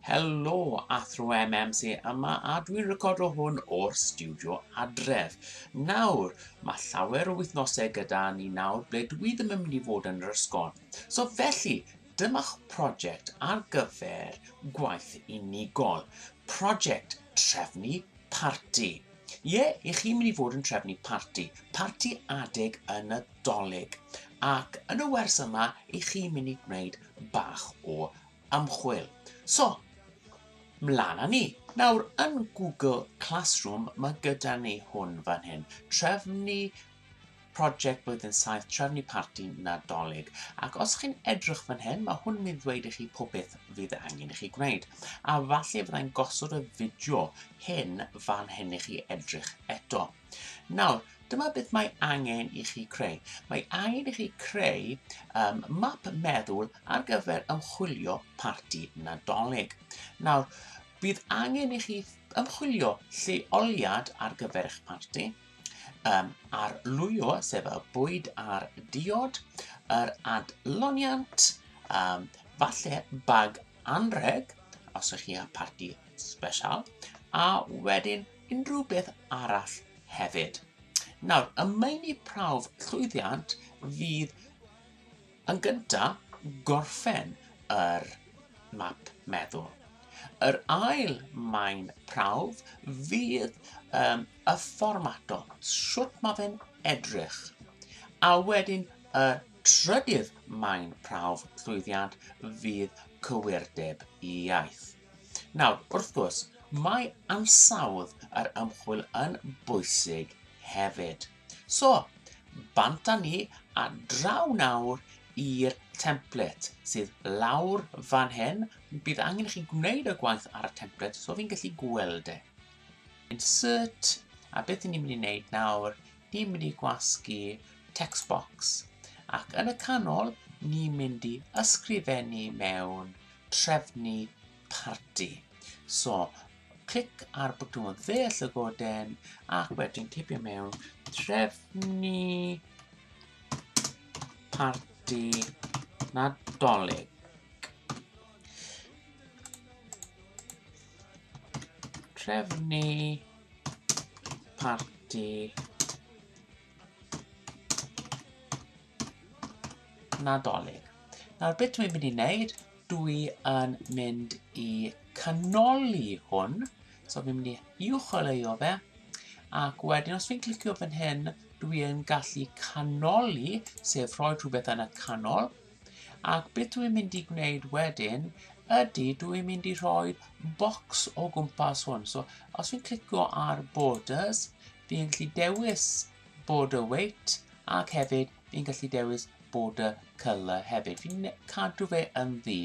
Helo, Athro MM sy yma a dwi'n recordo hwn o'r stiwdio adref. Nawr, mae llawer o wythnosau gyda ni nawr ble dwi ddim yn mynd i fod yn yr ysgol. So felly, dyma'ch prosiect ar gyfer gwaith unigol. Prosiect trefnu parti. Ie, yeah, i chi'n mynd i fod yn trefnu parti, parti adeg y Nadolig. Ac yn y wers yma, i chi mynd i gwneud bach o ymchwil. So, mlaen â ni. Nawr, yn Google Classroom, mae gyda ni hwn fan hyn. Trefnu prosiect blwyddyn 7, trefnu parti nadolig. Ac os chi'n edrych fan hyn, mae hwn yn mynd ddweud i chi pob beth fydd angen i chi gwneud. A falle fyddai'n gosod y fideo hyn fan hyn i chi edrych eto. Nawr, dyma beth mae angen i chi creu. Mae angen i chi creu um, map meddwl ar gyfer ymchwilio parti nadolig. Nawr, bydd angen i chi ymchwilio lleoliad ar gyfer eich parti, um, ar lwyo, sef y bwyd a'r diod, yr adloniant, um, falle bag anreg, os ych chi â parti special, a wedyn unrhyw beth arall hefyd. Nawr, y meini prawf llwyddiant fydd yn gyntaf gorffen yr map meddwl. Yr ail maen prawf fydd um, y fformato, sut mae fe'n edrych. A wedyn y trydydd maen prawf llwyddiant fydd cywirdeb i iaith. Nawr, wrth gwrs, mae ansawdd yr ymchwil yn bwysig hefyd. So, bant â ni a draw nawr i'r template sydd lawr fan hyn. Bydd angen chi gwneud y gwaith ar y template, so fi'n gallu gweld e. Insert, a beth ni'n mynd i wneud nawr Ni'n mynd i gwasgu text box ac yn y canol ni'n mynd i ysgrifennu mewn trefnu parti. So, clic ar bwtwm dde llygoden ac wedyn tipio mewn trefnu parti nadolig. Trefnu Parti. Nadolig. Nawr beth dwi'n mynd i wneud, dwi yn mynd i canoli hwn. So fi'n mynd i uwcholeuo fe. Ac wedyn os fi'n clicio fan hyn, dwi yn gallu canoli, sef rhoi rhywbeth yn y canol. Ac beth dwi'n mynd i gwneud wedyn ydy dwi'n mynd i rhoi bocs o gwmpas hwn. So os fi'n clicio ar borders, fi'n gallu dewis border weight ac hefyd fi'n gallu dewis border colour hefyd. Fi'n cadw fe yn ddi.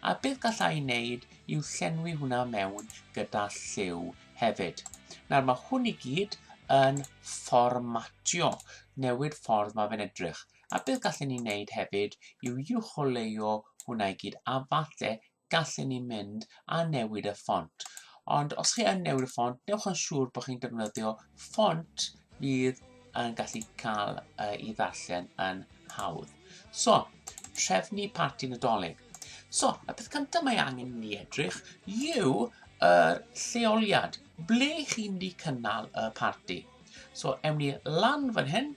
A beth gallai ei wneud yw llenwi hwnna mewn gyda lliw hefyd. Nawr mae hwn i gyd yn fformatio, newid ffordd mae fe'n edrych. A beth gallen ni wneud hefyd yw uwcholeuo hwnna i gyd, a falle gallen ni mynd a newid y ffont. Ond os chi yn newid y ffont, newch yn siŵr bod chi'n defnyddio ffont fydd yn gallu cael uh, i ddarllen yn hawdd. So, trefnu parti nadolig. So, y peth cyntaf mae angen i ni edrych yw yr lleoliad, ble chi'n mynd i cynnal y parti. So, ewn ni lan fan hyn,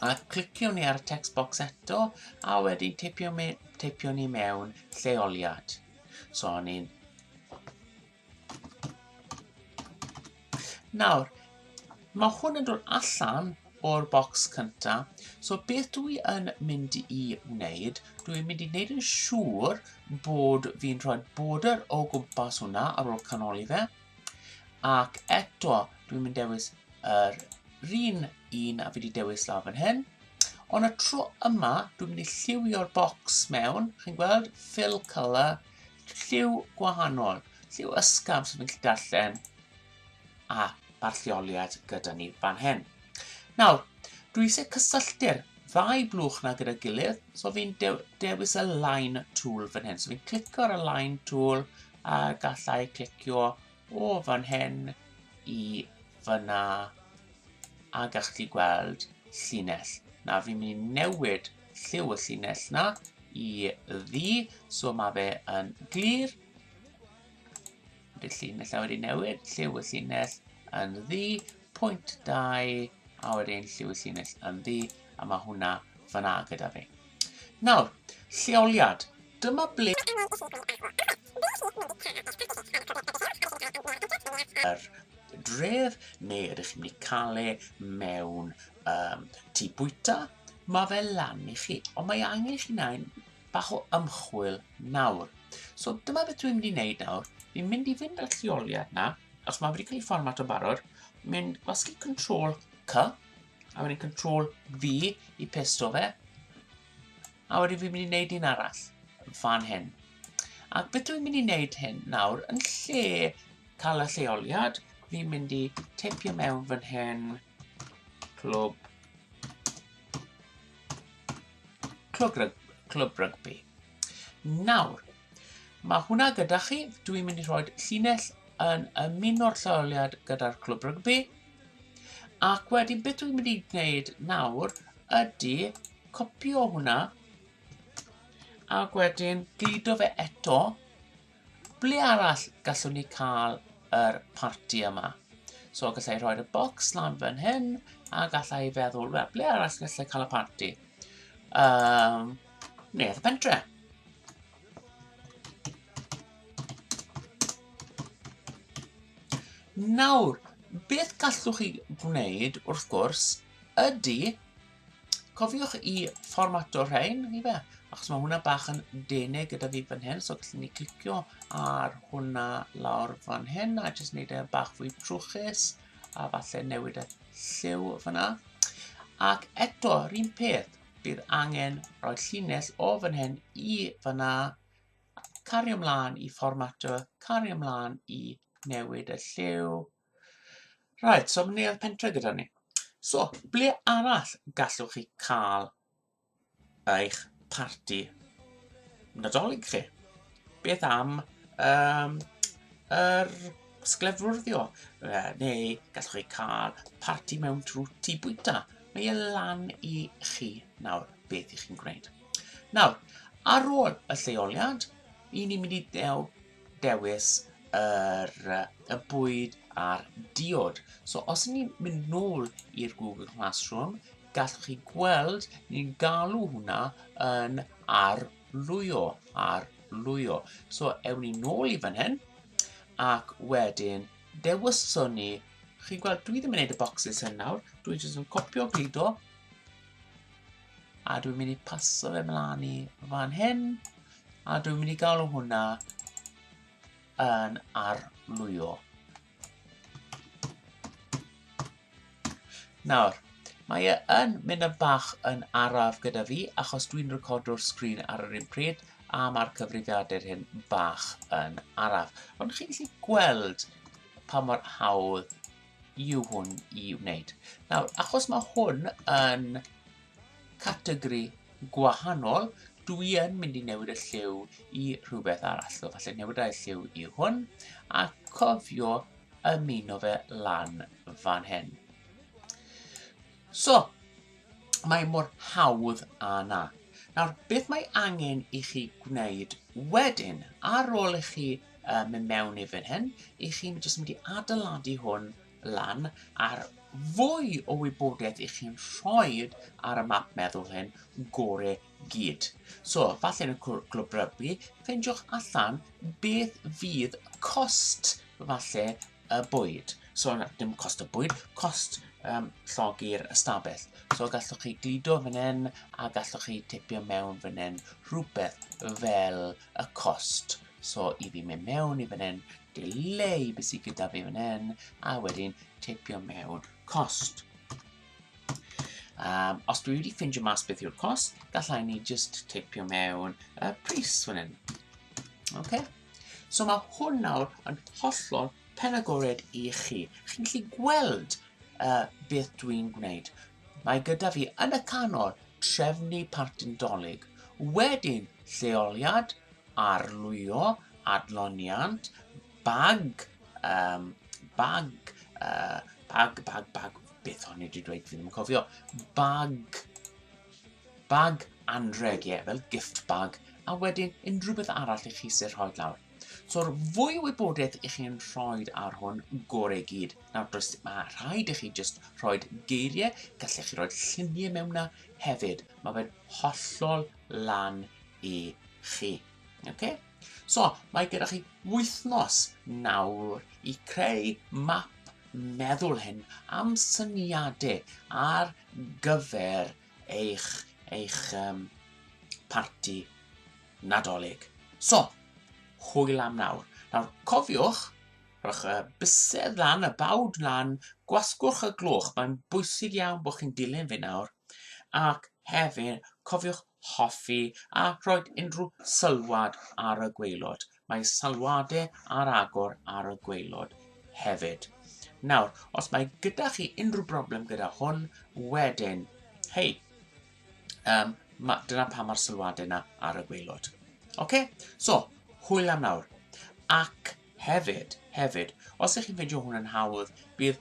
a clicio ni ar y text box eto a wedyn teipio, me, teipio ni mewn lleoliad. So o'n i'n... Nawr, mae hwn yn dod allan o'r bocs cynta. So beth dwi yn mynd i wneud, dwi'n mynd i wneud yn siŵr bod fi'n rhoi border o gwmpas hwnna ar ôl canoli fe. Ac eto, dwi'n mynd dewis yr un un a fi wedi dewis lawr fan hyn. Ond y tro yma, dwi'n mynd i lliwio'r bocs mewn, chi'n gweld, fill colour, lliw gwahanol, lliw ysgaf sy'n mynd i darllen, a mae'r lleoliad gyda ni fan hyn. Nawr, dwi eisiau cysylltu'r ddau blwch na gyda'i gilydd, so fi'n de dewis y line tool fan hyn. So fi'n clicio ar y line tool, a gallai clicio o fan hyn i fyna a gallwch chi gweld llinell. Na, fi'n mynd i newid lliw y llinell na i ddi, so mae fe yn glir. Bydd llinell a wedi newid, lliw y llinell yn ddi, pwynt 2, a wedyn lliw y llinell yn ddi, a mae hwnna fyna gyda fi. Nawr, lleoliad. Dyma ble yr dref neu ydych chi'n mynd i cael e mewn um, tŷ bwyta, mae fe lan i chi, ond mae angen i chi wneud bach o ymchwil nawr. So dyma beth dwi'n mynd i wneud nawr, fi'n mynd i fynd â'r lleoliad na, os mae wedi cael ei fformat o barod, mynd gwasgu control C, A wedyn control V i pesto fe. A wedyn fi'n mynd i wneud un arall fan hyn. Ac beth dwi'n mynd i wneud hyn nawr, yn lle cael y lleoliad, fi'n mynd i teipio mewn fan hyn, clwb, clwb, rygbi. Nawr, mae hwnna gyda chi. Dwi'n mynd i rhoi llinell yn ymuno'r lleoliad gyda'r clwb rygbi. Ac wedyn beth dwi'n mynd i wneud nawr ydy copio hwnna ac wedyn gludo fe eto Ble arall gallwn ni cael yr parti yma? So gallai i roi'r bocs lan fan hyn, a gallai i feddwl, wel, ble arall gallai cael y parti? Um, neu'r pentre. Nawr, beth gallwch chi wneud, wrth gwrs, ydy Cofiwch i fformato rhain i fe, achos mae hwnna bach yn denig gyda fi fan hyn, so gallwn ni clicio ar hwnna lawr fan hyn, a jyst wneud e bach fwy trwchus, a falle newid y lliw fyna. Ac eto, yr un peth, bydd angen rhoi llinell o fan hyn i fyna, cario ymlaen i fformato, cario ymlaen i newid y lliw, Right, so mae neuadd pentre gyda ni. So, ble arall gallwch chi cael eich parti nadolig chi? Beth am um, yr sglefrwrddio? Uh, neu gallwch chi cael parti mewn trwy tu bwyta? Mae e lan i chi nawr beth i chi'n gwneud. Nawr, ar ôl y lleoliad, i ni mynd i ddew dewis yr, y bwyd a'r diod. So os ni'n mynd nôl i'r Google Classroom, gallwch chi gweld ni'n galw hwnna yn arlwyo, arlwyo. So ewn ni nôl i fan hyn, ac wedyn dewiswn ni, chi'n gweld dwi ddim yn gwneud y bocsys hyn nawr, dwi jyst yn copio gludo, A dwi'n mynd i paso fe mlaen i fan hyn. A dwi'n mynd i galw hwnna yn arlwyo. Nawr, mae e yn mynd yn bach yn araf gyda fi achos dwi'n recordio'r sgrin ar yr un pryd a mae'r cyfrifiadur hyn bach yn araf. Ond chi'n gallu gweld pa mor hawdd yw hwn i wneud. Nawr, achos mae hwn yn categori gwahanol, dwi yn mynd i newid y lliw i rhywbeth arall. So, falle newid y lliw i hwn, a cofio ymuno fe lan fan hyn. So, Mae mor hawdd â 'na. Nawr, beth mae angen i chi gwneud wedyn, ar ôl i chi uh, mynd mewn i fan hyn, i chi'n jyst mynd i adeiladu hwn lan ar fwy o wybodaeth i chi'n rhoi ar y map meddwl hyn gore gyd. So, falle yn y clwb rygbi, ffeindiwch allan beth fydd cost falle y bwyd. So, na, dim cost y bwyd, cost um, llogi'r ystafell. So gallwch chi glido fan hyn a gallwch chi tipio mewn fan hyn rhywbeth fel y cost. So i fi mynd mewn i fan hyn, delay beth sydd gyda fi fan hyn a wedyn tipio mewn cost. Um, os dwi wedi ffindio mas beth yw'r cost, gallai ni just teipio mewn y uh, pris fan hyn. Okay? So mae hwn nawr yn hollol pen agored i chi. Chi'n gallu gweld uh, beth dwi'n gwneud. Mae gyda fi yn y canol trefnu partyn dolyg. Wedyn lleoliad, arlwyo, adloniant, Bag! Um, bag! Uh, bag, bag, bag. Beth o'n i wedi dweud? Fi ddim yn cofio. Bag. Bag anreg, ie, yeah, fel gift bag. A wedyn, unrhyw beth arall i chi sy'n rhoi lawr. So'r fwy o wybodaeth i chi'n rhoi ar hwn, gore gyd. Nawr, does, mae rhaid i chi just rhoi geiriau, gallech chi roi lluniau mewn na hefyd. Mae fe'n hollol lan i chi. Okay? So, mae gyda chi wythnos nawr i creu map meddwl hyn am syniadau ar gyfer eich, eich um, parti nadolig. So, hwyl am nawr. Nawr, cofiwch, rhowch y bysedd lan, y bawd lan, gwasgwch y gloch, mae'n bwysig iawn bod chi'n dilyn fi nawr, ac hefyd cofiwch hoffi a rhoi unrhyw sylwad ar y gwaelod. Mae sylwadau ar agor ar y gwaelod hefyd. Nawr, os mae gyda chi unrhyw broblem gyda hwn, wedyn, hei, um, ma, dyna pa mae'r sylwadau yna ar y gwaelod. Oce? Okay? So, hwyl am nawr. Ac hefyd, hefyd, os ych chi'n ffeindio hwn yn hawdd, bydd